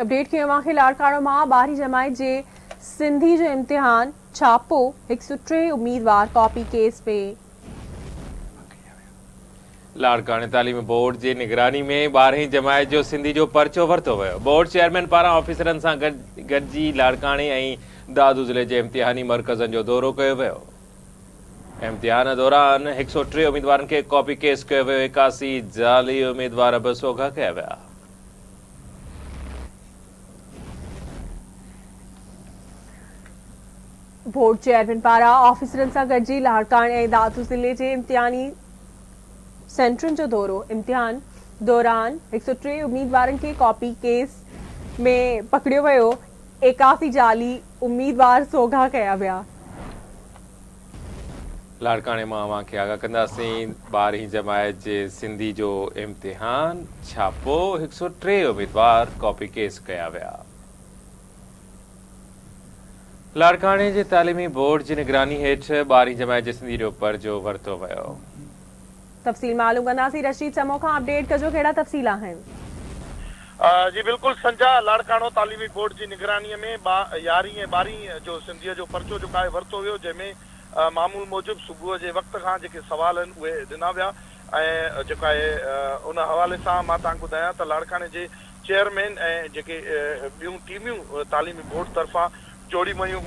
Update ڪيو اوهان کي لاڙڪاڻو مان ٻارهين جماعت جي سنڌي جو امتحان ڇاپو هڪ سؤ ٽي اميدوار ڪاپي ڪيس ۾. لاڙڪاڻي تعليمي بورڊ جي نگراني ۾ ٻارهين جماعت جو سنڌي جو پرچو ورتو ويو بورڊ چيئرمين پاران آفيسرن سان گڏجي لاڙڪاڻي ۽ دادو ضلعي جي امتحاني مرڪزن جو دورو ڪيو ويو امتحان دوران هڪ سؤ ٽي اميدوارن کي ڪاپي ڪيس ڪيو ويو ايڪاسي جعلي اميدوار به سوگها ڪيا ويا بورڊ چيئرمين پاران آفيسرن سان گڏجي لاڙڪاڻي ۽ دادو ضلعي جي امتحاني سينٽرن جو دورو امتحان دوران هڪ سؤ ٽي اميدوارن کي ڪاپي ڪيس ۾ پڪڙيو ويو ايڪاسي جعلي اميدوار سوگها ڪيا ويا لاڙڪاڻي مان اوهان کي آگاهه ڪنداسين ٻارهين جماعت جي سنڌي جو امتحان ڇاپو هڪ سؤ ٽي اميدوار ڪاپي ڪيس ڪيا ويا لاڙڪاڻي جي تعليمي بورڊ جي نگراني هيٺ ٻارهين جماعت جي سنڌي جو پرچو ورتو ويو تفصيل معلوم ڪنداسين رشيد چمو کان اپڊيٽ ڪجو ڪهڙا تفصيل آهن. جي بلڪل سنجا، لاڙڪاڻو تعليمي بورڊ جي نگراني ۾ ٻا يارهين ۽ ٻارهين جو سنڌيء جو پرچو جوکائي ورتو ويو جنهن ۾ معمول موجب صبح جي وقت کان جيڪي سوال آهن اهي ڏنا ويا ۽ جوکائي ان حوالي سان مان توهان کي ٻڌايان ته لاڙڪاڻي جي چيئرمين ۽ جيڪي ٻيون ٽيميون تعليمي بورڊ طرفان جوڙيون ويون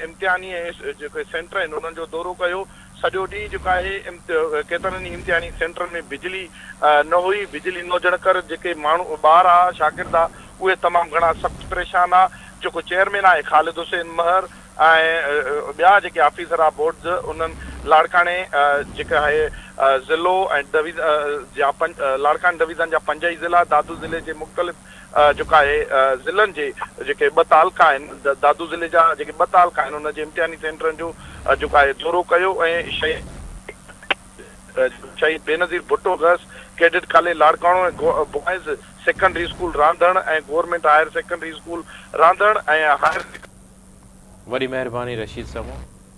امتحاني جيڪي سينٽر آهن انهن جو دورو ڪيو، سڄو ڏينهن جيڪو آهي ڪيترن ئي امتحاني سينٽرن ۾ بجلي نه هئي، بجلي نه هجڻ ڪر جيڪي ماڻهو ٻار آ شاگرد آ اهي تمام گهڻا سخت پريشان آ، جيڪو چيئرمين آهي خالد حسين مهر ۽ ٻيا جيڪي آفيسر آ بورڊز انهن لاڙڪاڻي جيڪي آهي ضلعو ۽ ڊويزن جا لاڙڪاڻي ڊويزن جا پنج ئي ضلعا دادو ضلعي جي مختلف جوکائي ضلعن جي جيڪي ٻه تعلقا آهن، دادو ضلعي جا جيڪي ٻه تعلقا آهن انهن جي امتحاني سينٽرن جو جوکائي دورو ڪيو ۽ شهيد شهيد Benazir Bhutto girls cadet college Larkana ۽ boys secondary school Randhan ۽ government higher secondary school Randhan ۽ higher وڏي مهرباني رشيد سمون.